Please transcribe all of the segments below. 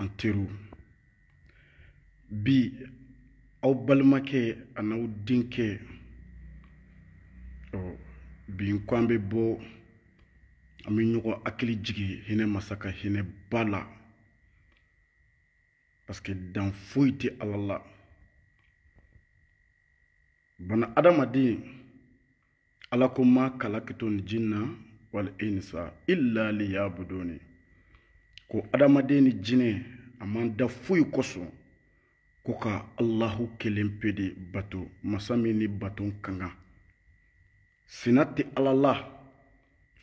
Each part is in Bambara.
an teriw bi aw balimakɛ an'aw denkɛ ɔ bi n ko an bɛ bɔ an bɛ ɲɔgɔn hakili jigin hinɛ masa ka hinɛ ba la parce que dan foyi tɛ ala la bana adamaden ala ko ma kalakitul jinna wal insa illa liyabuduni ko adamaden ni jinɛ a m'an da foyi kosɔn ko ka alahu kelen pe de bato masa min ni bato ka kan sina tɛ ala la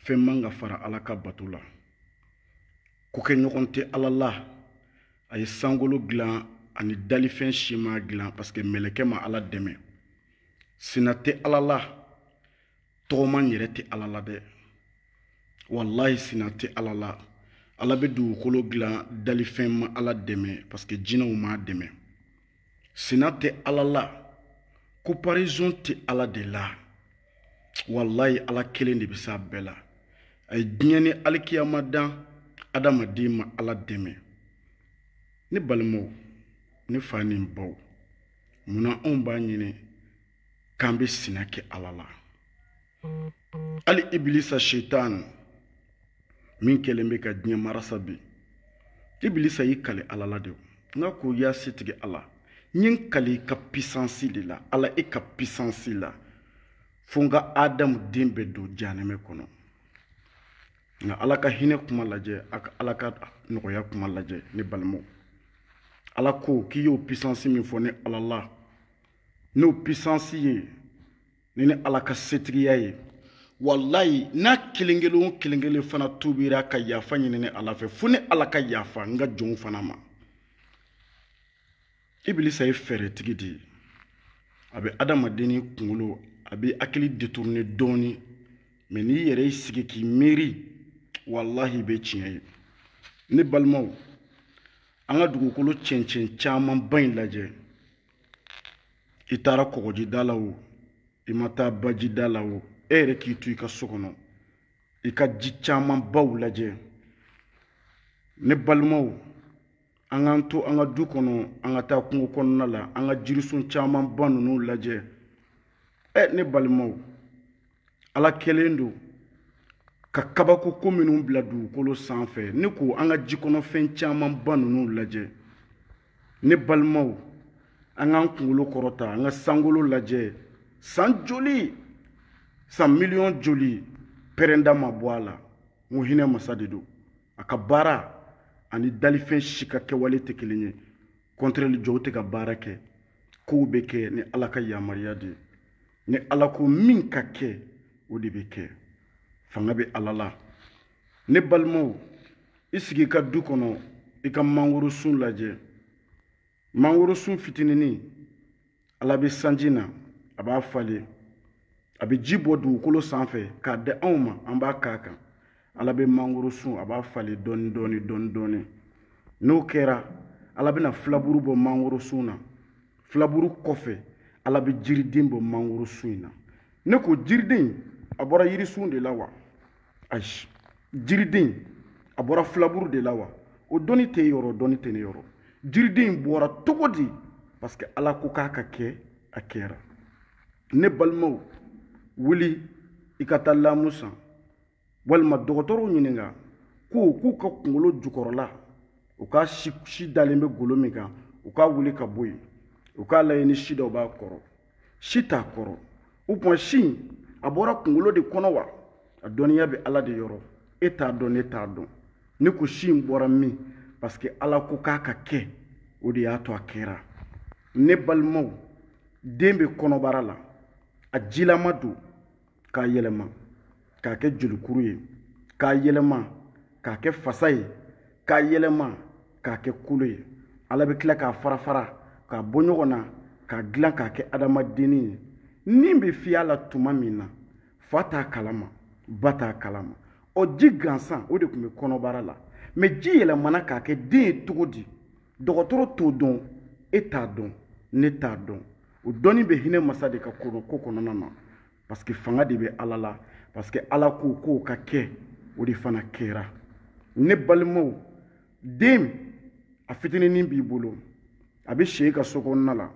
fɛn man ka fara ala ka bato la kokɛɲɔgɔn tɛ ala la a ye sankolo dilan a ni dalifɛn si m'a dilan parce que mɛlɛkɛ ma ala dɛmɛ sina tɛ ala la tɔgɔma yɛrɛ tɛ ala la dɛ walayi sina tɛ ala la ala bɛ dugukolo dilan dalifɛn ma ala dɛmɛ parce que jinɛw m'a dɛmɛ sina tɛ ala la comparaison tɛ ala de la walayi ala kelen de bɛ s'a bɛɛ la a ye diɲɛ ni alikiyama dan adamaden ma ala dɛmɛ ne balimaw ne fa ni n baw mun na anw b'a ɲini k'an bɛ sina kɛ ala la hali ibilisa setan min kɛlen bɛ ka diɲɛ marasa bi ibilisa y'i kale ala la de nka ko ya setigi ala n ye n kale i ka puissance de la ala i ka puissance la fo n ka adamu den bɛɛ don jahanɛmɛ kɔnɔ nka ala ka hinɛ kuma lajɛ a ka ala ka nɔgɔya kuma lajɛ ne balimaw ala ko k'i y'o puissance min fɔ ne ala la n'o puissance ye ni ne ala ka setigiya ye walayi n'a kelen kelen o kelen kelen fana tuubira ka yafa ɲini ne ala fɛ fo ne ala ka yafa n ka jɔnw fana ma ibilisa ye fɛɛrɛtigi de ye a bɛ adamadenni kunkolo a bɛ hakili détourner dɔɔni mais n'i yɛrɛ y'i sigi k'i miiri walahi i bɛ tiɲɛ ye ne balimaw an ka dugukolo cɛncɛn camanba in lajɛ i taara kɔgɔjida la o i ma taa bajida la o e yɛrɛ k'i to i ka so kɔnɔ i ka ji camanbaw lajɛ ne balimaw an k'an to an ka du kɔnɔ an ka taa kungo kɔnɔna la an ka jirisun camanba ninnu lajɛ ɛ ne balimaw ala kɛlen don ka kabako ko minnu bila dugukolo sanfɛ ne ko an ka jikɔnɔfɛn camanba ninnu lajɛ ne balimaw an k'an kunkolo kɔrɔta an ka sankolo lajɛ san joli san miliyɔn joli pɛrɛnda ma bɔ a la n ko hinɛ masa de don a ka baara ani dalifɛn si ka kɛwale tɛ kelen ye kɔntrɛli jɔw tɛ ka baara kɛ kow bɛ kɛ ni ala ka yamaruya de ye ni ala ko min ka kɛ o de bɛ kɛ fanga bɛ ala la ne balimaw i sigi i ka du kɔnɔ i ka mangorosun lajɛ mangorosun fitininin ala bɛ sanji na a b'a falen a bɛ ji bɔ dugukolo sanfɛ k'a di anw ma an b'a k'a kan ala bɛ mangorosun a b'a falen dɔɔni dɔɔni dɔɔni dɔɔni n'o kɛra ala bɛna filaburu bɔ mangorosun na filaburu kɔfɛ ala bɛ jiriden bɔ mangorosun in na ne ko jiriden a bɔra yirisun de la wa ayi jiriden a bɔra filaburu de la wa o dɔnni tɛ e yɔrɔ o dɔnni tɛ ne yɔrɔ jiriden in bɔra cogo di parce que ala ko k'a ka kɛ a kɛra ne balimaw wuli i ka taa lamu san walima dɔgɔtɔrɔw ɲininka ko k'u ka kungolo jukɔrɔla u ka si dalen bɛ golo min kan u k'a wuli ka bɔ yen u k'a lajɛ ni si dɔ b'a kɔrɔ si t'a kɔrɔ o tuma si in a bɔra kunkolo de kɔnɔ wa a dɔnniya bɛ ala de yɔrɔ e t'a dɔn ne t'a dɔn ne ko si in bɔra min parce que ala ko k'a ka kɛ o de y'a to a kɛra ne balimaw den bɛ kɔnɔbara la a jilama don k'a yɛlɛma k'a kɛ jolikuru ye k'a yɛlɛma k'a kɛ fasa ye k'a yɛlɛma k'a kɛ kolo ye ala bɛ tila k'a fara fara k'a bɔ ɲɔgɔn na k'a dilan k'a kɛ adamadenni ye ni bɛ fiyɛ a la tuma min na fa t'a kalama ba t'a kalama o ji gansan o de tun bɛ kɔnɔbara la mɛ ji yɛlɛmana k'a kɛ den ye cogo di dɔgɔtɔrɔ t'o dɔn e t'a dɔn ne t'a dɔn o dɔnni bɛ hinɛ masa de ka ko kɔnɔna na parce que fanga de bɛ ala la parce que ala ko k'o ka kɛ o de fana kɛra ne balimaw den a fitininin b'i bolo a bɛ si e ka so kɔnɔna la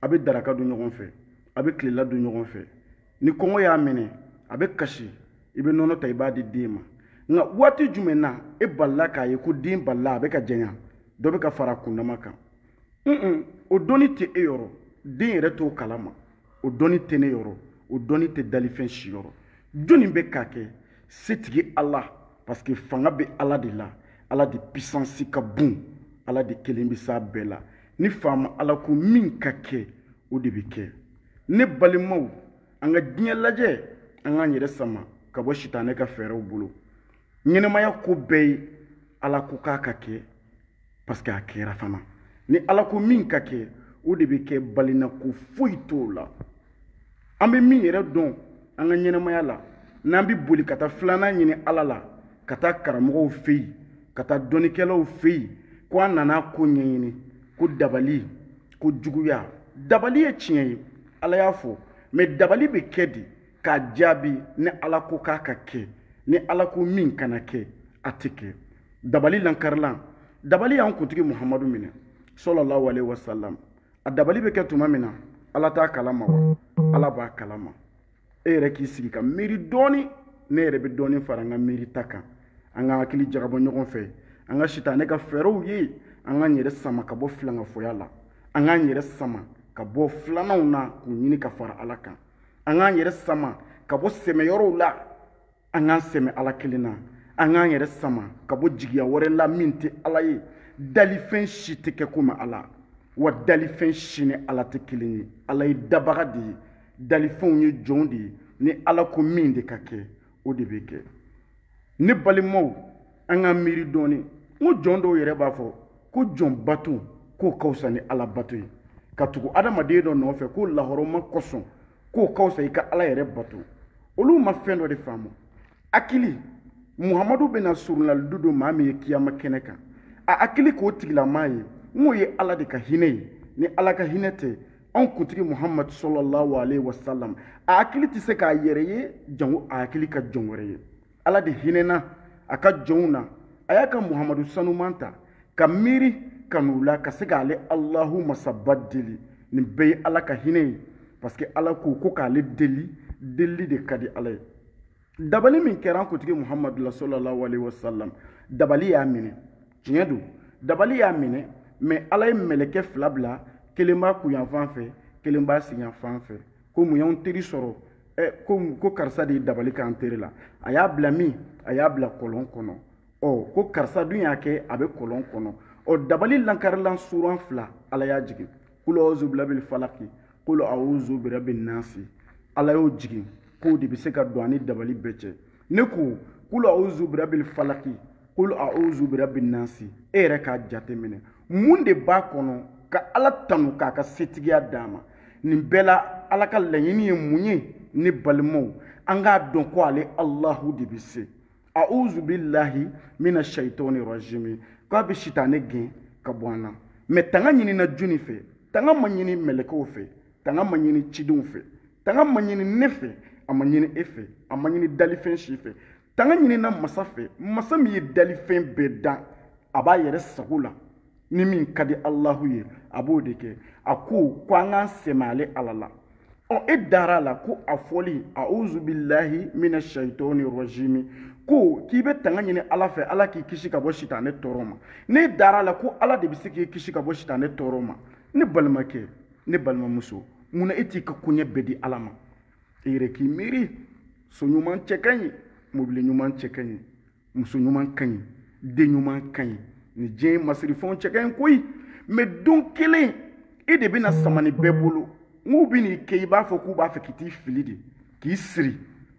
a bɛ daraka dun ɲɔgɔn fɛ a bɛ tilela dun ɲɔgɔn fɛ ni kɔngɔ y'a minɛ a bɛ kasi i bɛ nɔnɔ ta i b'a di den ma nka waati jumɛn na e balila k'a ye ko den balila a bɛ ka janya dɔ bɛ ka fara a kundama kan un o dɔnni tɛ e yɔrɔ den yɛrɛ t'o kalama o dɔnni tɛ ne yɔrɔ o dɔnni tɛ dalifɛn si yɔrɔ jɔnni bɛ k'a kɛ setigi ala parce que fanga bɛ ala de la ala de pisansi ka bon ala de kelen bɛ s'a bɛɛ la ni faama ala ko min ka kɛ o de bɛ kɛ ne balimaw an ka diɲɛ lajɛ an k'an yɛrɛ sama ka bɔ sitanɛ ka fɛɛrɛw bolo ɲɛnamaya ko bɛɛ ye ala ko k'a ka kɛ paske a kɛra fana ni ala ko min ka kɛ o de bɛ kɛ balina ko foyi t'o la an bɛ min yɛrɛ dɔn an ka ɲɛnamaya la n'an bɛ boli ka taa filanan ɲini ala la ka taa karamɔgɔw fɛ yen ka taa dɔnnikɛlaw fɛ yen ko an nana ko ɲɛɲini ko dabali kojuguya dabali ye tiɲɛ ye ala y'a fɔ mɛ dabali bɛ kɛ de k'a jaabi ni ala ko k'a ka kɛ ni ala ko min kana kɛ a tɛ kɛ dabali lankarilan dabali y'an kuntigi muhamadu minɛ sallallahu alaihi wasallam a dabali bɛ kɛ tuma min na ala t'a kalama wa ala b'a kalama e yɛrɛ k'i sigi ka miiri dɔɔni ne yɛrɛ bɛ dɔɔni fara an ka miiri ta kan an ka hakili jagabɔ ɲɔgɔn fɛ an ka sitanɛ ka fɛɛrɛw ye an k'an yɛrɛ sama ka bɔ filankafoya la an k'an yɛrɛ sama ka bɔ filananw na k'u ɲini ka fara ala kan an k'an yɛrɛ sama ka bɔ sɛmɛyɔrɔw la an k'an sɛmɛ ala kelen na an k'an yɛrɛ sama ka bɔ jigiya wɛrɛ la min tɛ ala ye dalifɛn si tɛ kɛ komi ala wa dalifɛn si ni ala tɛ kelen ye ala ye dabaga de ye dalifɛnw ye jɔnw de ye ni ala ko min de ka kɛ o de bɛ kɛ ne balimaw an ka miiri dɔɔni n ko jɔn dɔw yɛrɛ b'a fɔ ko jɔn bato k'o ka fisa ni ala bato ye ka tugu adamaden dɔ nɔfɛ ko lahɔrɔma kosɔn k'o ka fisa i ka ala yɛrɛ bato olu ma fɛn dɔ de faamu hakili muhamadu bɛna soronalidon don maa min ye kiyama kɛnɛ kan a hakili k'o tigilamaa ye n'o ye ala de ka hinɛ ye ni ala ka hinɛ tɛ anw kuntigi muhamadu sallallahu alaihi wasallam a hakili tɛ se k'a yɛrɛ ye jango a hakili ka jɔn wɛrɛ ye ala de hinɛna a ka jɔnw na a y'a ka muhamadu sanuman ta ka miiri kanu la ka se k'ale alahu masaba deli nin bɛɛ ye ala ka hinɛ ye parce que ala ko ko k'ale deli delili de ka di ala ye dabali min kɛra an kuntigi muhamadu la sallallahu alaihi wasallam dabali y'a minɛ tiɲɛ don dabali y'a minɛ mɛ ala ye mɛlɛkɛ fila bila kelen b'a kunyanfan fɛ kelen b'a senyanfan fɛ ko mun y'anw teri sɔrɔ ɛ ko ko karisa de ye dabali k'an teri la a y'a bila min a y'a bila kɔlɔn kɔnɔ ɔ ko karisa dun y'a kɛ a bɛ kɔlɔn kɔnɔ ɔ dabali lankarilan suran fila ala y'a jigin kulu auzu birabil falaki kulu auzu birabin nasi ala y'o jigin k'o de bɛ se ka don an ni dabali bɛɛ cɛ ne ko kulu auzu birabil falaki kulu auzu birabin nasi e yɛrɛ k'a jateminɛ mun de b'a kɔnɔ ka ala tanu k'a ka setigiya d'a ma nin bɛɛ la ala ka laɲini ye mun ye ne balimaw an k'a dɔn ko ale alahu de bɛ se auzu bilahi mina shaitani rajimi k'a bɛ sitanɛ gɛn ka bɔ an na mɛ tanga ɲinina jɔni fɛ tanga ma ɲini mɛlɛkɛw fɛ tanga ma ɲini cidenw fɛ tanga ma ɲini ne fɛ a ma ɲini e fɛ a ma ɲini dalifɛn si fɛ tanga ɲinina masa fɛ masa min ye dalifɛn bɛɛ dan a b'a yɛrɛ sago la ni min ka di alahu ye a b'o de kɛ a ko ko an k'an sɛmɛ ale ala la ɔ e dara a la ko a fɔli auzu bilahi mina shaitɔni rɔjimi ko k'i bɛ tanga ɲini ala fɛ ala k'i kisi ka bɔ sitanɛ tɔɔrɔ ma ne dara a la ko ala de bɛ se k'i kisi ka bɔ sitanɛ tɔɔrɔ ma ne balimakɛ ne balimamuso mun na e t'i ka koɲɛ bɛɛ di ala ma i yɛrɛ k'i miiri so ɲuman cɛ ka ɲi mobili ɲuman cɛ ka ɲi muso ɲuman ka ɲi den ɲuman ka ɲi nin diɲɛ masirifɛnw cɛ ka ɲi koyi mɛ don kelen e de bɛna sama nin bɛɛ bolo n'u bɛn'i kɛ i b'a fɔ k'u b'a fɛ k'i t'i fili de k'i siri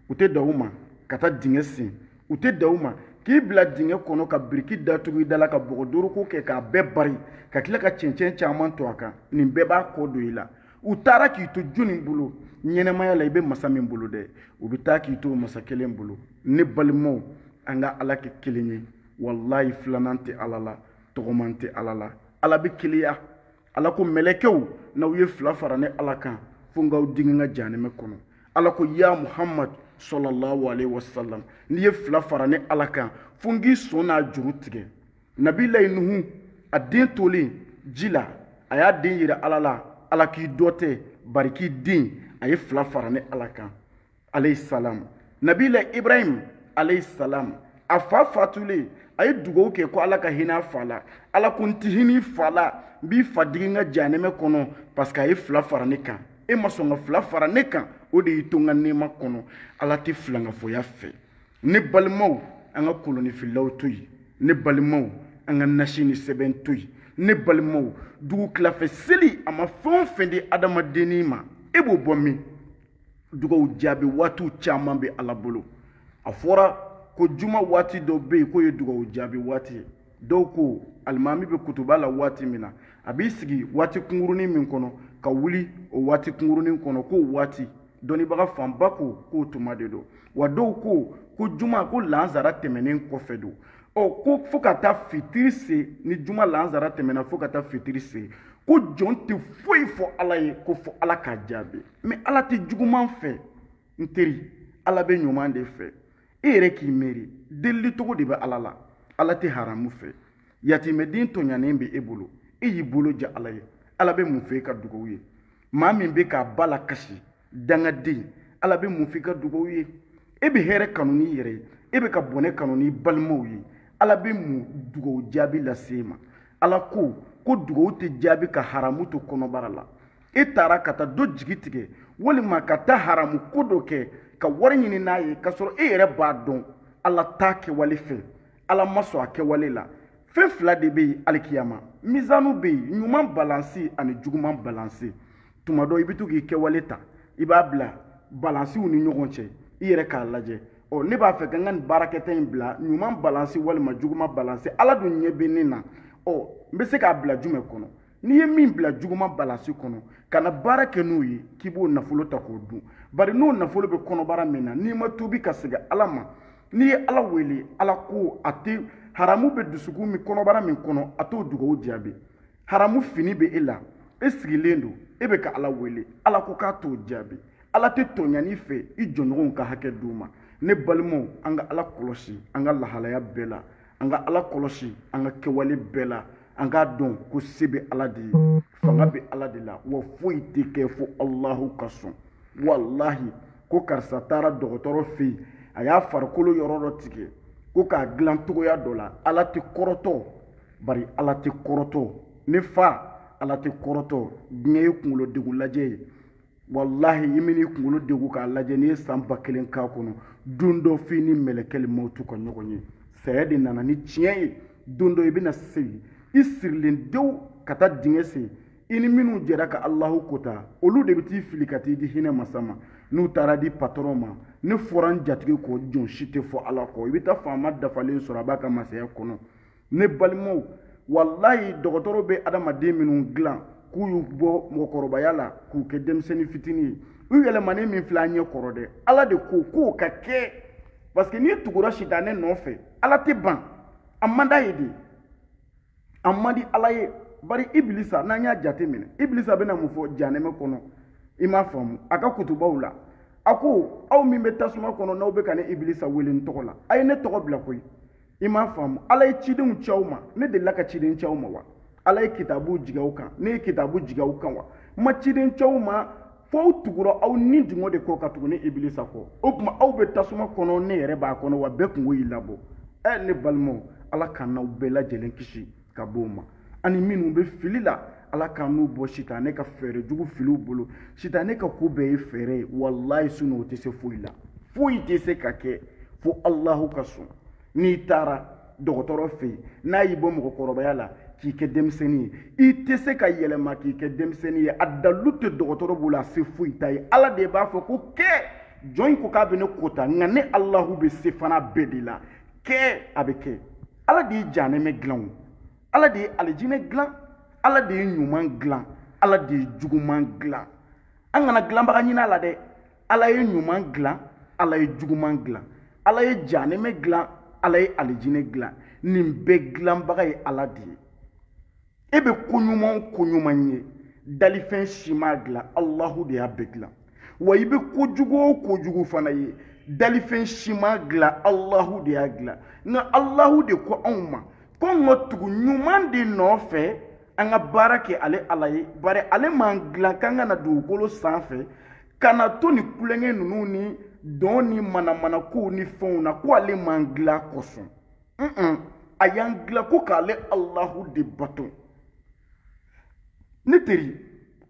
u tɛ dan o ma ka taa dingɛ sen u tɛ dan o ma k'i bila dingɛ kɔnɔ ka biriki datugu i da la ka bɔgɔ doroko kɛ k'a bɛɛ bari ka tila ka cɛncɛn caman to a kan nin bɛɛ b'a kɔ don i la u taara k'i to jɔnni bolo ɲɛnamaya la i bɛ masa min bolo dɛ u bɛ taa k'i to masa kelen bolo ne balimaw an ka ala kɛ kelen ye walayi filanan tɛ ala la tɔgɔman tɛ ala la ala bɛ keleya ala ko mɛlɛkɛw n'aw ye fila fara ne ala kan fo n k'aw digi n ka jahanɛmɛ kɔnɔ ala ko ya muhamad sɔlɔlahu alayhi wa sallam n'i ye fila fara ne ala kan fo n k'i sɔnnajuru tigɛ nabilayi nuhu a den tolen ji la a y'a den yira ala la ala k'i dɔ tɛ bari k'i den a ye fila fara ne ala kan alayhi salam nabila ibrahim alayhi salam a fa fatulen a ye dugawu kɛ ko ala ka hinɛ a fa la ala ko n tɛ hinɛ i fa la n b'i fa digi n ka janɛmɛ kɔnɔ parce que a ye fila fara ne kan e ma sɔn ka fila fara ne kan o de y'i to n ka nɛɛma kɔnɔ ala tɛ filankafoya fɛ ne balimaw an ka kolonifilaw to yen ne balimaw an ka nasi ni sɛbɛn to yen ne balimaw dugutila fɛ seli a ma fɛn o fɛn di adamadenni ma e b'o bɔ min dugawu jaabi waatiw caman bɛ ala bolo a fɔra ko juma waati dɔ bɛ yen k'o ye dugawu jaabi waati ye dɔw ko alimami bɛ kutuba la waati min na a b'i sigi waati kunkurunin min kɔnɔ ka wuli o waati kunkurunin kɔnɔ k'o waati dɔnnibaga fanba ko k'o tuma de don wa dɔw ko ko juma ko lansara tɛmɛnen kɔfɛ don ɔ ko fo ka taa fitiri se ni juma lansara tɛmɛna fo ka taa fitiri se ko jɔn tɛ foyi fɔ ala ye ko fo ala k'a jaabi mɛ ala tɛ juguman fɛ n teri ala bɛ ɲuman de fɛ e yɛrɛ k'i miiri delili cogo de bɛ ala la ala tɛ haramu fɛ yatimɛden tɔɲanen bɛ e bolo e y'i bolo ja ala ye ala bɛ mun fɛ i ka dugawu ye maa min bɛ k'a ba lakasi dangaden ala bɛ mun fɛ i ka dugawu ye e bɛ hɛrɛ kanu n'i yɛrɛ ye e bɛ ka bɔnɛ kanu n'i balimaw ye ala bɛ mun dugawu jaabi lase e ma ala ko ko dugawu tɛ jaabi ka haramu to kɔnɔbara la e taara ka taa dɔ jigi tigɛ walima ka taa haramu ko dɔ kɛ ka wari ɲini n'a ye k'a sɔrɔ e yɛrɛ b'a dɔn ala t'a kɛwale fɛ ala ma sɔn a kɛwale la fɛn fila de bɛ yen alikiyama mizanu bɛ yen ɲuman balansi ani juguman balansi tuma dɔ i bɛ to k'i kɛwale ta i b'a bila balansiw ni ɲɔgɔn cɛ i yɛrɛ k'a lajɛ ɔ ne b'a fɛ ka n ka nin baarakɛta in bila ɲuman balansi walima juguman balansi ala dun ɲɛ bɛ ne na ɔ n bɛ se k'a bila jumɛn kɔnɔ n'i ye min bila juguman balansi kɔnɔ kana baara kɛ n'o ye k'i b'o nafolo ta k'o dun bari n'o nafolo bɛ kɔnɔbara min na n'i ma tuubi ka segin ala ma n'i ye ala wele ala ko a tɛ haramu bɛ dusukun min kɔnɔbara min kɔnɔ a t'o dugawu jaabi haramu fini bɛ e la e sigilen don e bɛ ka ala wele ala ko k'a t'o jaabi ala tɛ tɔɲani fɛ i jɔnɲɔgɔnw ka hakɛ d'u ma ne balimaw an ka ala kɔlɔsi an ka lahalaya bɛɛ la an ka ala kɔlɔsi an ka kɛwale bɛɛ la an k'a dɔn ko se bɛ ala de ye fanga bɛ ala de la wa foyi tɛ kɛ fo alahu ka sɔn walahi ko karisa taara dɔgɔtɔrɔ fɛ yen a y'a farikolo yɔrɔ dɔ tigɛ ko k'a dilan cogoya dɔ la ala tɛ kɔrɔtɔ bari ala tɛ kɔrɔtɔ ne fa ala tɛ kɔrɔtɔ diɲɛ ye kunkolo degun lajɛ ye walahi i min'i kunkolo degun k'a lajɛ n'i ye san ba kelen k'a kɔnɔ don dɔ f'i ni mɛlɛkɛli mawutu ka ɲɔgɔn ye saya de nana ni tiɲɛ ye don dɔ i bɛna segin i sirilen dewu ka taa dingɛ sen i ni minnu jɛra ka alahu kota olu de bɛ t'i fili ka t'i di hinɛ masa ma n'u taara di patɔrɔn ma ne fɔra n jatigi kɔ jɔn si tɛ fɔ ala kɔ i bɛ taa faama dafalen sɔrɔ a b'a ka masaya kɔnɔ ne balimaw walayi dɔgɔtɔrɔ bɛ adamaden minnu dilan k'u y'u bɔ mɔgɔkɔrɔbaya la k'u kɛ denmisɛnnin fitinin ye u yɛlɛmanen min filɛ an ɲɛ kɔrɔ dɛ ala de ko k'o ka kɛ parce que n'i tugura sitanɛ nɔfɛ ala tɛ ban a man d'a ye de a man di ala ye bari ibilisa n'an y'a jate minɛ ibilisa bɛna mun fɔ jahanɛmɛ kɔnɔ i m'a faamu a ka kutubaw la a ko aw min bɛ tasuma kɔnɔ n'aw bɛ ka ne ibilisa wele n tɔgɔ la a ye ne tɔgɔ bila koyi i m'a faamu ala ye cidenw ci aw ma ne delila ka ciden ci aw ma wa ala ye kitabu jigin aw kan ne ye kitabu jigin aw kan wa n ma ciden ci aw ma fo aw tugura aw ni dungɔ de kɔ ka tugu ne ibilisa kɔ o tuma aw bɛ tasuma kɔnɔ ne yɛrɛ b'a kɔnɔ wa bɛɛ kunko y'i labɔ ɛ ne balimaw ala k'an n'aw bɛɛ lajɛlen kisi ka b'o ma ani minnu bɛ fili la ala k'an n'u bɔ sitanɛ ka fɛɛrɛ jugu filiw bolo sitanɛ ka ko bɛɛ ye fɛɛrɛ ye walayi sinon o tɛ se foyi la foyi tɛ se ka kɛ fo alahu ka sɔn n'i taara dɔgɔtɔrɔ fɛ yen n'a y'i bɔ mɔgɔkɔrɔbaya la k'i kɛ denmisɛnnin ye i tɛ se ka yɛlɛma k'i kɛ denmisɛnnin ye a dalilu tɛ dɔgɔtɔrɔ bolo a se foyi t'a ye ala de b'a fɔ ko kɛ jɔn in ko k'a bɛ ne kota nka ne alahu bɛ se fana bɛɛ de la kɛ a bɛ kɛ ala de ye janɛmɛ dilan o ala de ye alijinɛ dilan ala de ye ɲuman dilan ala de ye juguman dilan an kana dilanbaga ɲini a la dɛ ala ye ɲuman dilan ala ye juguman dilan ala ye janɛmɛ dilan ala ye alijinɛ dilan nin bɛɛ dilanbaga ye ala de ye e bɛ ko ɲuman o ko ɲuman ye dalifɛn si m'a dilan alahu de y'a bɛɛ dilan wa i bɛ kojugu o kojugu fana ye dalifɛn si m'a dilan alahu de y'a dilan nka alahu de ko anw ma ko n ka tugu ɲuman de nɔfɛ an ka baara kɛ ale ala ye bari ale m'an dilan k'an ka na dugukolo sanfɛ ka na to nin tulonkɛ ninnu ni dɔn ni manamanakow ni fɛnw na ko ale m'an dilan o kosɔn a y'an dilan ko k'ale alahu de bato ne teri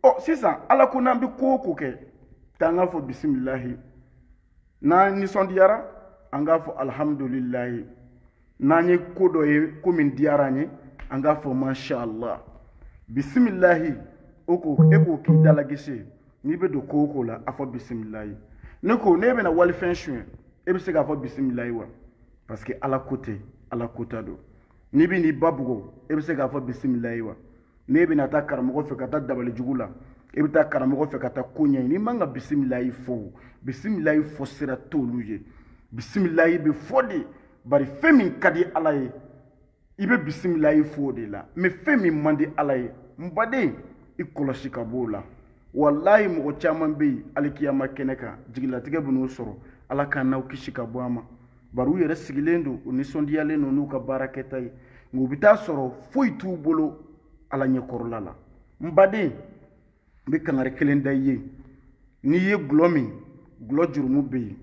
ɔ sisan ala ko n'an bɛ ko o ko kɛ k'an k'a fɔ bisimilahi n'an nisɔndiyara an k'a fɔ alihamudulilayi n'an ye ko dɔ ye ko min diyara an ye an k'a fɔ mashallah bisimilahi o ko e k'o k'i dalagese n'i bɛ don ko o ko la a fɔ bisimilayi ne ko n'e bɛna walifɛn suɲɛ e bɛ se k'a fɔ bisimilayi wa parce que ala ko tɛ ala kota don n'i bɛn'i ba bugɔ e bɛ se k'a fɔ bisimilayi wa n'e bɛna taa karamɔgɔ fɛ ka taa dabali jugu la e bɛ taa karamɔgɔ fɛ ka taa ko ɲɛɲini i man ka bisimilayi fɔ o bisimilayi fɔ sira t'olu ye bisimilayi bɛ fɔ de bari fɛn min ka di ala ye i bɛ bisimilayi fɔ o de la mɛ fɛn min man di ala ye n baden i kɔlɔsi ka b'o la walayi mɔgɔ caman bɛ yen alikiyama kɛnɛ kan jigilatigɛ bɛn'u sɔrɔ ala k'an n'aw kisi ka bɔ a ma bari u yɛrɛ sigilen don u nisɔndiyalen don n'u ka baara kɛta ye nka u bɛ t'a sɔrɔ foyi t'u bolo ala ɲɛkɔrɔla la n baden n bɛ kangari kelen da i ye n'i ye gulɔ min gulɔ jurumu bɛ yen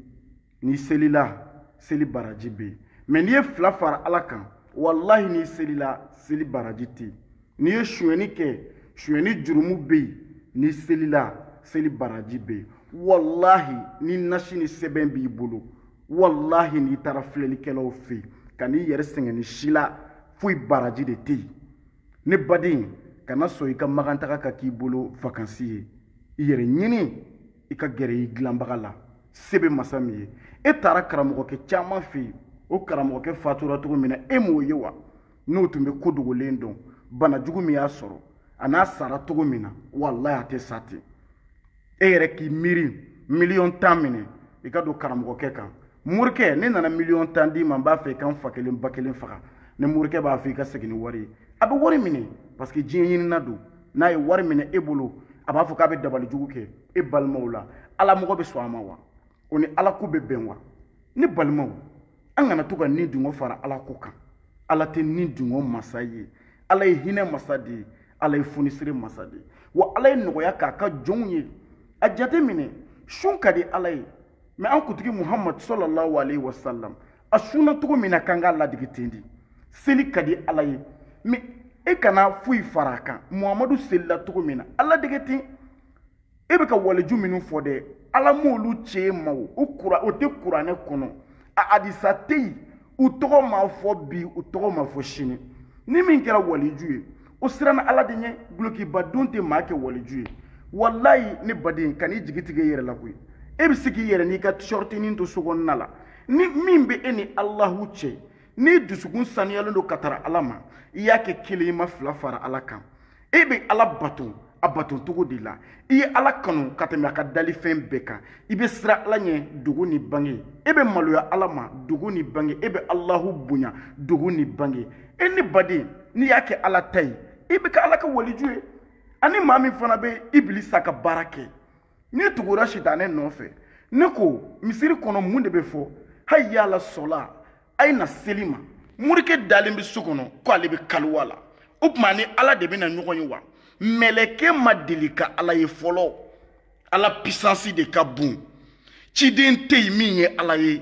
n'i selila seli baraji bɛ yen mɛ n'i ye fila fara ala kan walahi n'i selila seli baraji tɛ yen n'i ye sonyɛni kɛ sonyɛni jurumu bɛ yen n'i selila seli baraji bɛ yen walahi ni nasi ni sɛbɛn b'i bolo walahi n'i taara filɛlikɛlaw fɛ yen kan'i yɛrɛ sɛgɛn n'i selila foyi baraji de tɛ yen ne baden kana sɔn i ka makantaga ka k'i bolo vakansi ye i yɛrɛ ɲini i ka gɛrɛ i dilanbaga la se bɛ masa min ye e taara karamɔgɔkɛ caman fɛ yen o karamɔgɔkɛ fatura cogo min na e m'o ye wa n'o tun bɛ ko dogolen dɔn bana jugu min y'a sɔrɔ a n'a sara cogo min na walayi a tɛ sa ten e yɛrɛ k'i miiri miliyɔn tan minɛ i ka don karamɔgɔkɛ kan morikɛ ne nana miliyɔn tan d'i ma n b'a fɛ i ka n fa kelen ba kelen faga ni morikɛ b'a fɔ i ka segin ni wari ye a bɛ wari minɛ parce que diɲɛ ɲinina don n'a ye wari minɛ e bolo a b'a fɔ k'a bɛ dabali jugu kɛ e balimaw la ala mɔgɔ bɛ sɔn a ma wa o ni ala ko bɛ bɛn wa ne balimaw an kana to ka ni dungo fara ala ko kan ala tɛ ni dungo masa ye ala ye hinɛ masa de ye ala ye funisire masa de ye wa ala ye nɔgɔya k'a ka jɔnw ye a jate minɛ sun ka di ala ye mɛ an kuntigi muhamadu sallallahu alayhi wa sallam a sunna cogo min na k'an k'a ladege ten di seli ka di ala ye mɛ e kana foyi fara a kan muhamadu selila cogo min na a ladege ten e bɛ ka waliju minnu fɔ dɛ ala m'olu ci e ma o o kura o tɛ kuranɛ kɔnɔ a hadisa tɛ yen u tɔgɔ ma fɔ bi u tɔgɔ ma fɔ sini ni min kɛra waliju ye o siranna ala de ɲɛ dulokiba don tɛ maa kɛ waliju ye walayi ne baden kan'i jigi tigɛ i yɛrɛ la koyi e bɛ se k'i yɛrɛ n'i ka sɔrɔtinin to so kɔnɔna la ni min bɛ e ni alahu cɛ n'i dusukun sanuyalen don ka tara ala ma i y'a kɛ kelen i ma fila fara ala kan e bɛ ala bato a bato cogo de la i ye ala kanu ka tɛmɛ a ka dalifɛn bɛɛ kan i bɛ siran ala ɲɛ dogo ni bange e bɛ maloya ala ma dogo ni bange e bɛ alahu bonya dogo ni bange e ne baden n'i y'a kɛ ala ta ye i bɛ kɛ ala ka waliju ye ani maa min fana bɛ ibilisa ka baara kɛ n'i tugura sitanɛ nɔfɛ ne ko misiri kɔnɔ mun de bɛ fɔ hayi yala sɔla a ye na seli ma morikɛ dalen bɛ so kɔnɔ ko ale bɛ kaliwa la o tuma ni ala de bɛna ɲɔgɔn ye wa mɛlɛkɛ ma deli ka ala ye fɔlɔ ala pisansi de ka bon ciden tɛ yen min ye ala ye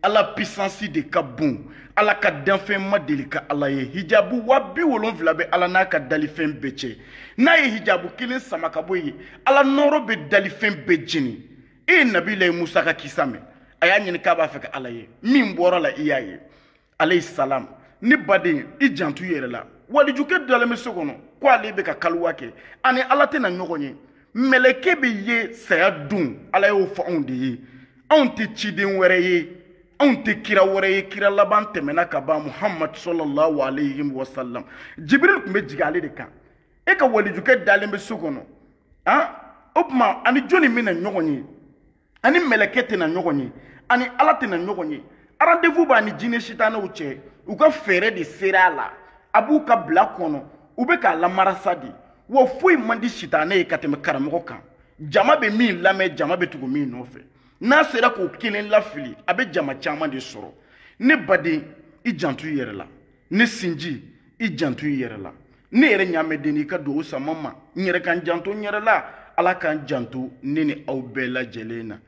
ala pisansi de ka bon ala ka danfɛn ma deli ka ala ye hijabu waa bi wolonfila bɛ ala n'a ka dalifɛn bɛɛ cɛ n'a ye hijabu kelen sama ka bɔ yen ala nɔɔrɔ bɛ dalifɛn bɛɛ jeni e ye nabilayi musa ka kisa mɛn a y'a ɲini k'a b'a fɛ ka ala ye min bɔra a la i y'a ye alayhi salam ne baden i janto i yɛrɛ la walijukɛ dalen bɛ so kɔnɔ ko ale bɛ ka kaliwa kɛ ani ala tɛna ɲɔgɔn ye mɛlɛkɛ bɛ ye saya don ala y'o fɔ anw de ye anw tɛ ciden wɛrɛ ye anw tɛ kira wɛrɛ ye kira laban tɛmɛna ka ban muhamadu sallallahu alayhi wa sallam jibril tun bɛ jigin ale de kan e ka walijukɛ dalen bɛ so kɔnɔ han o tuma ani jɔni bɛna ɲɔgɔn ye ani mɛlɛkɛ tɛna ɲɔgɔn ye ani ala tɛna ɲɔgɔn ye rendez-vous b'a ni jinɛ sitanɛw cɛ u ka fɛɛrɛ de sera a la a b'u ka bila kɔnɔ u bɛ k'a lamarasa de wa foyi man di sitanɛ ye ka tɛmɛ karamɔgɔ kan jama bɛ min lamɛn jama bɛ tugu min nɔfɛ n'a sera k'o kelen lafili a bɛ jama caman de sɔrɔ ne baden i janto i yɛrɛ la ne sinji i janto i yɛrɛ la ne yɛrɛ ɲaamɛden i ka dugawu sama n ma n yɛrɛ ka n janto n yɛrɛ la ala k'an janto ne ni aw bɛɛ lajɛlen na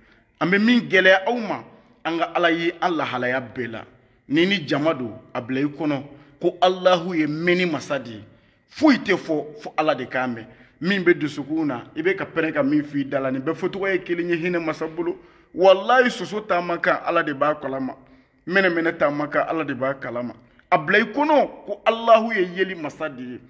an bɛ min gɛlɛya aw ma an ka ala ye an lahalaya bɛɛ la n'i ni jama don a bila i kɔnɔ ko alahu ye mɛnni masa de ye foyi tɛ fɔ fo ala de k'a mɛn min bɛ dusukun na i bɛ ka pɛrɛn ka min fɔ i da la nin bɛɛ fɔcogo ye kelen ye hinɛ masa bolo walayi soso taamakan ala de b'a kalama mɛnɛmɛnɛ taama kan ala de b'a kalama a bila i kɔnɔ ko alahu ye yeli masa de ye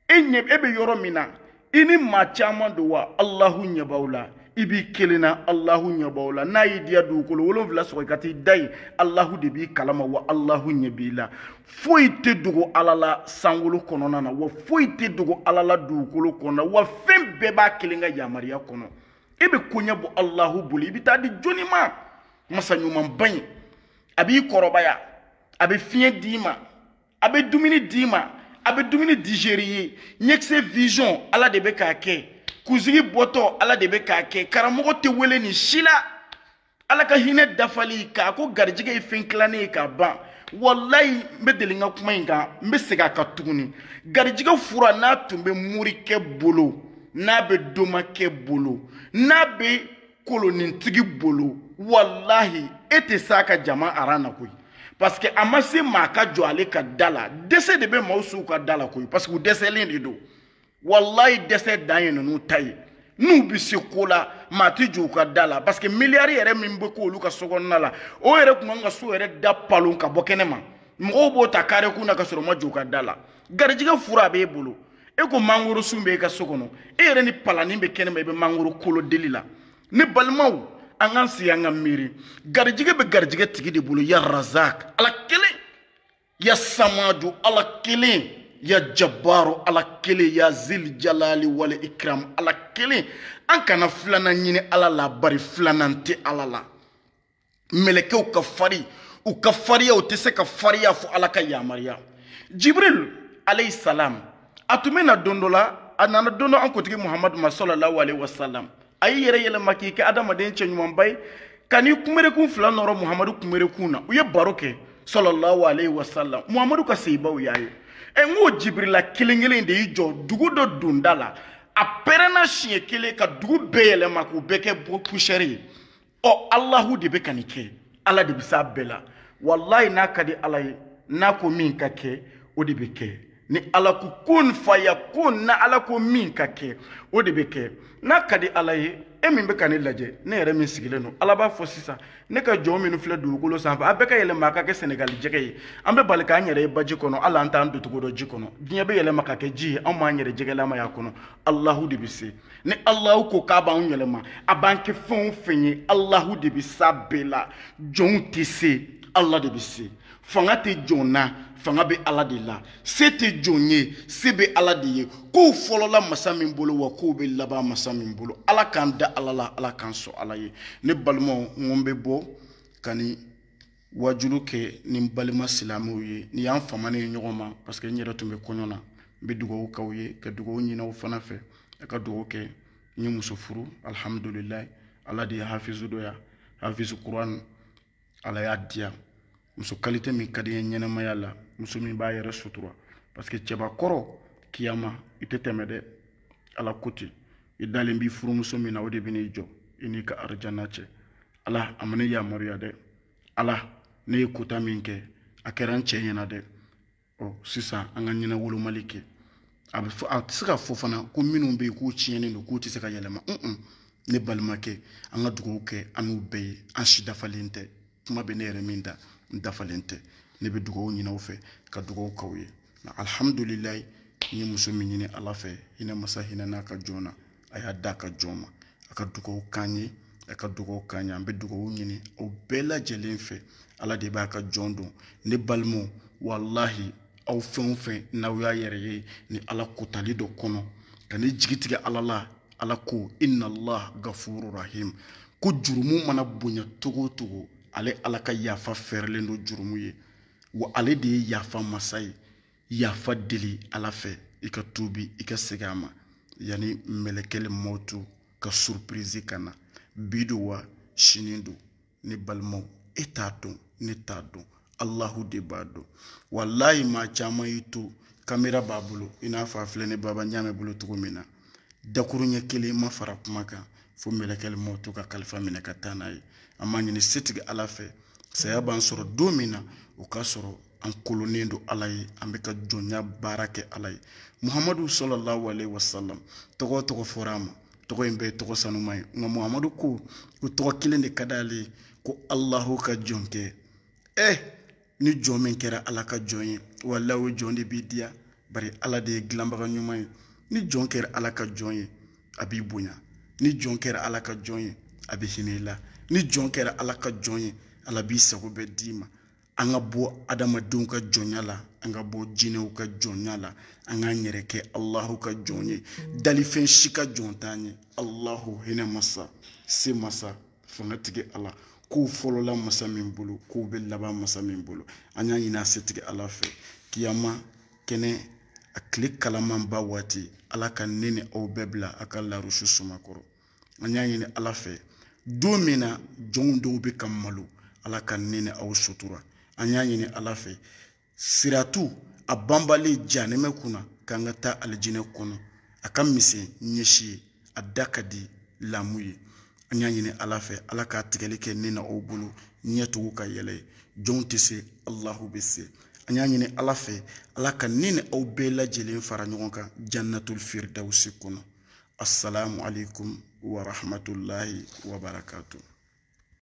e ɲɛ e bɛ yɔrɔ min na i ni maa caman don wa alahu ɲɛ b'aw la i b'i kelen na alahu ɲɛ b'aw la n'a y'i diya dugukolo wolonfila sɔgɔ i ka t'i da yen alahu de b'i kalama wa alahu ɲɛ b'i la foyi tɛ dogo ala la sankolo kɔnɔna na wa foyi tɛ dogo ala la dugukolo kɔnɔna na wa fɛn bɛɛ b'a kelen ka yamaruya kɔnɔ e bɛ koɲɛ bɔ alahu bolo i bɛ t'a di jɔnni ma masa ɲumanba in a b'i kɔrɔbaya a bɛ fiɲɛ d'i ma a bɛ dumuni d'i ma a bɛ dumuni digérer i ye ɲɛkisɛ vision ala de bɛ k'a kɛ kunsigi bɔtɔ ala de bɛ k'a kɛ karamɔgɔ tɛ wele nin si la ala ka hinɛ dafali k'a ko garijɛgɛ ye fɛn tilannen ye ka ban walayi n bɛ deli n ka kuma in kan n bɛ segin a kan tuguni garijɛgɛ fura n'a tun bɛ morikɛ bolo n'a bɛ domakɛ bolo n'a bɛ kolonintigi bolo walahi e tɛ s'a ka jama aran na koyi parce que a ma se maa ka jɔ ale ka da la dɛsɛ de bɛ maaw s'u ka da la koyi parce que u dɛsɛlen de don walayi dɛsɛ dan ye ninnu ta ye n'u bɛ se ko la maa tɛ jɔ u ka da la parce que miliyari yɛrɛ min bɛ k'olu ka sokɔnɔna la o yɛrɛ tun kan ka so yɛrɛ da palon ka bɔ kɛnɛ ma mɔgɔw b'o ta kare kun na ka sɔrɔ u ma jɔ u ka da la garijɛgɛ fura a b'e bolo e ko mangoro sun bɛ e ka so kɔnɔ e yɛrɛ ni palanin bɛ kɛnɛma i bɛ mangoro kolo deli la ne balimaw an k'an sigi an ka miiri garijɛgɛ bɛ garijɛgɛ tigi de bolo ya razak ala kelen ya samadu ala kelen ya jabaru ala kelen ya zil jalali wal ikram ala kelen an kana filanan ɲini ala la bari filanan tɛ ala la mɛlɛkɛw ka fari u ka fariya u tɛ se ka fariya fo ala ka yamaruya jibril alayhi salam a tun bɛ na don dɔ la a nana don dɔ an kuntigi muhamadu ma sɔlɔlahu alayhi wa salam a y'i yɛrɛ yɛlɛma k'i kɛ adamaden cɛ ɲumanba ye ka n'i kunberekun fila nɔrɔ muhamadu kunberekun na u ye baro kɛ sɔlɔlahu alayhi wa salam muhamadu ka sahabaw y'a ye ɛ n k'o jibirila kelen kelen de y'i jɔ dugu dɔ donda la a pɛrɛnna siɲɛ kelen ka dugu bɛɛ yɛlɛma k'u bɛɛ kɛ poussière ye ɔ alahu de bɛ ka nin kɛ ala de bɛ s'a bɛɛ la walayi n'a ka di ala ye n'a ko min ka kɛ o de bɛ kɛ ni ala ko kun fayakun na ala ko min ka kɛ o de bɛ kɛ n'a ka di ala ye e min bɛ ka ne lajɛ ne yɛrɛ min sigilen don ala b'a fɔ sisan ne ka jɔn minnu filɛ dugukolo sanfɛ a bɛɛ ka yɛlɛma a ka kɛ sɛnɛgali jɛgɛ ye an bɛ bali k'an yɛrɛ ye baji kɔnɔ hali an t'an doncogo dɔn ji kɔnɔ diɲɛ bɛ yɛlɛma ka kɛ ji ye anw b'an yɛrɛ jɛgɛlama y'a kɔnɔ alahu de bɛ se ni alahu ko k'a b'anw yɛlɛma a b'an kɛ fɛn o fɛn ye alahu de bɛ s'a bɛɛ la jɔnw tɛ se ala de bɛ se fanga tɛ jɔn na fanga bɛ ala de la se tɛ jɔn ye se bɛ ala de ye kow fɔlɔla masa min bolo wa kow bɛ laban masa min bolo ala k'an da ala la ala k'an sɔn ala ye ne balimaw n ko n bɛ bɔ ka ni wajuli kɛ ni n balima silamɛw ye n'i y'an famanen ye ɲɔgɔn ma parce que n yɛrɛ tun bɛ kɔɲɔ na n bɛ dugawu k'aw ye ka dugawu ɲini aw fana fɛ a ka dugawu kɛ n ye muso furu alihamudulilayi ala de ye hafizu dɔ ya hafizu kuran ala y'a diya muso kalite min ka di n ye ɲɛnɛmaya la muso min b'a yɛrɛ sutura parce que cɛbakɔrɔ kiyama i tɛ tɛmɛ dɛ ala ko ten i dalen b'i furumuso min na o de bɛ n'i jɔ i n'i ka arijana cɛ ala a ma ne yamaruya dɛ ala ne ye kota min kɛ a kɛra n cɛ ɲɛna dɛ ɔ sisan an ka ɲɛnawolomali kɛ a bɛ a tɛ se ka fɔ fana ko minnu bɛ yen k'u tiɲɛnen don k'u tɛ se ka yɛlɛma un ne balimakɛ an ka dugawu kɛ an n'u bɛɛ ye an si dafalen tɛ kuma bɛ ne yɛrɛ min da n dafalen tɛ ne bɛ dugawu ɲini aw fɛ ka dugawu k'aw ye nka alihamudulilayi n ye muso min ɲini ala fɛ hinɛ masa hinɛn'a ka jɔn na a y'a d'a ka jɔn ma a ka dugawu k'an ye a ka dugawu k'an ye an bɛ dugawu ɲini aw bɛɛ lajɛlen fɛ ala de b'a ka jɔn dɔn ne balimaw walahi aw fɛn o fɛn n'aw y'a yɛrɛ ye ni ala kotali dɔ kɔnɔ kan'i jigi tigɛ ala la ala ko inna allah gafuru rahim ko jurumu mana bonya cogo o cogo ale ala ka yafa fɛɛrɛlen don jurumu ye wa ale de ye yafa masa ye yafa deli ala fɛ i ka tuubi i ka segin a ma yanni mɛlɛkɛli mɔtu ka surpirizi ka na bi don wa sini don ne balimaw e t'a dɔn ne t'a dɔn alahu de b'a dɔn walayi maa caman y'i to kamera b'a bolo i n'a fɔ a filɛ ne baba ɲaamɛ bolo cogo min na dakuruɲɛ kelen ma fara kuma kan fo mɛlɛkɛli mɔtu ka kalifa minɛ ka taa n'a ye an b'a ɲini setigi ala fɛ saya b'an sɔrɔ don min na o k'a sɔrɔ an kolonnen don ala ye an bɛ ka jɔnya baara kɛ ala ye muhamadu sɔlɔlahu alehi wasalam tɔgɔ o tɔgɔ fɔra a ma tɔgɔ in bɛɛ tɔgɔ sanuma ye nka muhamadu ko ko tɔgɔ kelen de ka d'ale ye ko alahu ka jɔnkɛ ɛ ni jɔn min kɛra ala ka jɔn ye walayi o jɔn de b'i diya bari ala de ye dilanbaga ɲuman ye ni jɔn kɛra ala ka jɔn ye a b'i bonya ni jɔn kɛra ala ka jɔn ye a bɛ hinɛ i la ni jɔn kɛra ala ka jɔn ye ala b'i sago bɛɛ d'i ma an ka bɔ adamadenw ka jɔnya la an ka bɔ jinɛw ka jɔnya la an k'an yɛrɛ kɛ alahu ka jɔn ye dalifɛn si ka jɔn t'an ye alahu hinɛ masa se masa fangatigi ala kow fɔlɔla masa min bolo kow bɛ laban masa min bolo an y'a ɲini a setigi ala fɛ kiyama kɛnɛ a tile kalamanba waati ala ka ne ni aw bɛɛ bila a ka larusu suma kɔrɔ an y'a ɲini ala fɛ don min na jɔnw dɔw bɛ ka malo ala ka ne ni aw sutura an y'a ɲini ala fɛ siratu a banbalen janɛmɛ kunna k'an ka taa alijinɛ kɔnɔ a ka misɛn ɲɛsi ye a da ka di lamu ye an y'a ɲini ala fɛ ala k'a tigɛli kɛ ne n'aw bolo ɲɛtugu ka yɛlɛ ye jɔnw tɛ se alahu bɛ se an y'a ɲini ala fɛ ala ka ne ni aw bɛɛ lajɛlen fara ɲɔgɔn kan jannatul firdawusi kɔnɔ assalamu alaikum wa rahmatullahi wa barakatuh